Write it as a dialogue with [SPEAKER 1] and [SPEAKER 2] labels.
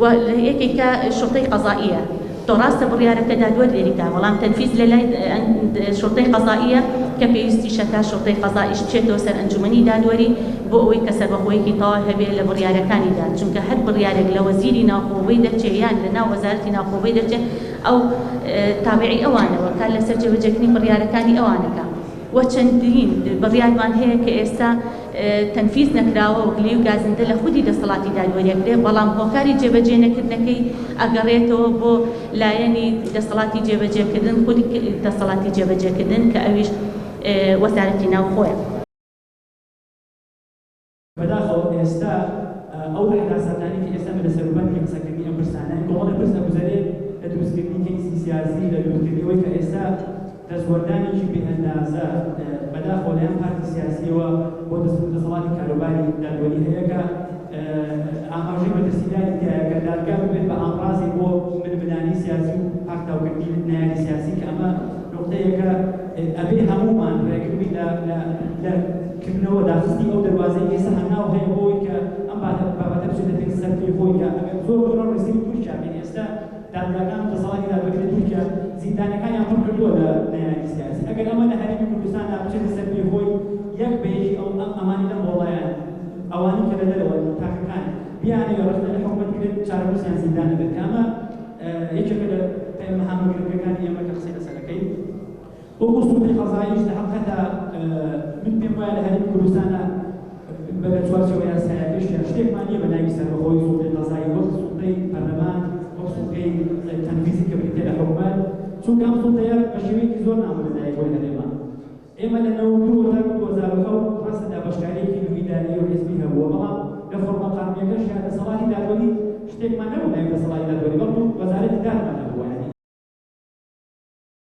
[SPEAKER 1] و یەکێک کە شوڕتەی قەزائیە تۆ ڕاستە بڕیارەکە دادوەر لێری دا بەڵام تەنفیز لە لای شوڕتەی قەزائیە کە پێویستیشە تا شوڕتەی قەزائیش بچێتەوە سەر ئەنجومەنی دادوەری بۆ ئەوەی کە سەربەخۆیەکی تەواو هەبێ لە بڕیارەکانیدا چونکە هەر بڕیارێک لە وەزیری ناوخۆ بۆی دەرچێ یان لە ناو وەزارەتی ناوخۆ بۆی دەرچێ ئەو تابعی ئەوانە وەکار لەسەر جێبەجێکردنی بڕیارەکانی ئەوانەکە. و چەندین بڕیارمان هەیە کە ئێستا تەنفیز نەکراوە و گلەی و گازندە لە خودی دەسەڵاتی دادوەری ئەکرێ بەڵام هۆکاری جێبەجێ نەکردنەکەی ئەگەڕێتەوە بۆ لایەنی دەسەڵاتی جێبەجێکردن خودی دەسەڵاتی جێبەجێکردن کە ئەویش وەزارەتی ناوخۆیە.
[SPEAKER 2] بەداخەوە ئێستا ئەو حەراساتانەی کە ئێستا لە سەروبەند کەین قسەکردنی ئەم پرسانە کۆمەڵێ پرس دەگوزەرێت لە دروستکردنی کەیسی سیاسی لە دروستکردنی ئەوەی کە ئێستا دەستوەردانێکی بێ ئەندازە بەداخەوە لەلایەن پارتی سیاسیەوە بۆ دەسەڵاتی کاروباری دادوەری هەیە کە ئاماژەی مەترسیداری تایە کە دادگا ببێت بە ئامڕازێک بۆ ململانێی سیاسی و پاکتاوکردنی نەیاری سیاسی کە ئەمە نوقتەیەکە ئەبێ هەموومان ڕێگر بین لە کردنەوە داخستنی ئەو دەروازەی ئێستا هەنگاو هەیە بۆ ئەوەی کە ئەم بابەتە بچێتە پێش سەرکوی خۆی کە ئەگەر زۆر دوور نەڕۆین سەیری تورکیا بکەین ئێستا دادگاکان و دەسەڵاتی دادوەری لە تورکیا زیندانەکانیان پڕ کردووە لە نەیاری سیاسی ئەگەر ئەمە لە هەرێمی کوردستاندا بچێتە سەرکوی خۆی یەک بە یەکی ئەو ئەمانی لەم بۆڵایانە ئەوانی کە لە دەرەوەن و تاکەکان بیانەوێت ڕەخنە لە حکومەت بگرن چارەنوسیان زیندان ئەبێت کە ئەمە یەکێکە لە پەیامە هامەگرنگەکانی ئێمە کە قسەی لەسەر ئەکەین. بۆ موسڵی قەزاییش لە هەقەدا من پێم وایە لە هەرێمی کوردستانا بە لە چوارچێوە یاسایەکەشیا شتێکمان نییە بە ناوی سەربەخۆی سوڵتەی قەزایی وەک سوڵتەی پەرلەمان وەک سوڵتەی تەنفیزی کە بریتیە لە حکومەت چونکە ئەم سوڵتەیە بە شێوەیەکی زۆر نامۆ لە دایک بووە هەرێما ئێمە لە نەوەد و دوو هەزار و دوو هەزار و حەوت ڕاستە دابەشکارییەکی نوێی ئیداری و حیزبی هەبووە بەڵام لە فۆڕمە قانونییەکەشیا دەسەڵاتی دادوەری شتێکمان نەبوو بە ناوی دەسەڵاتی دادوەری بەڵکو وەزارەتی دادمان هەبوو یانی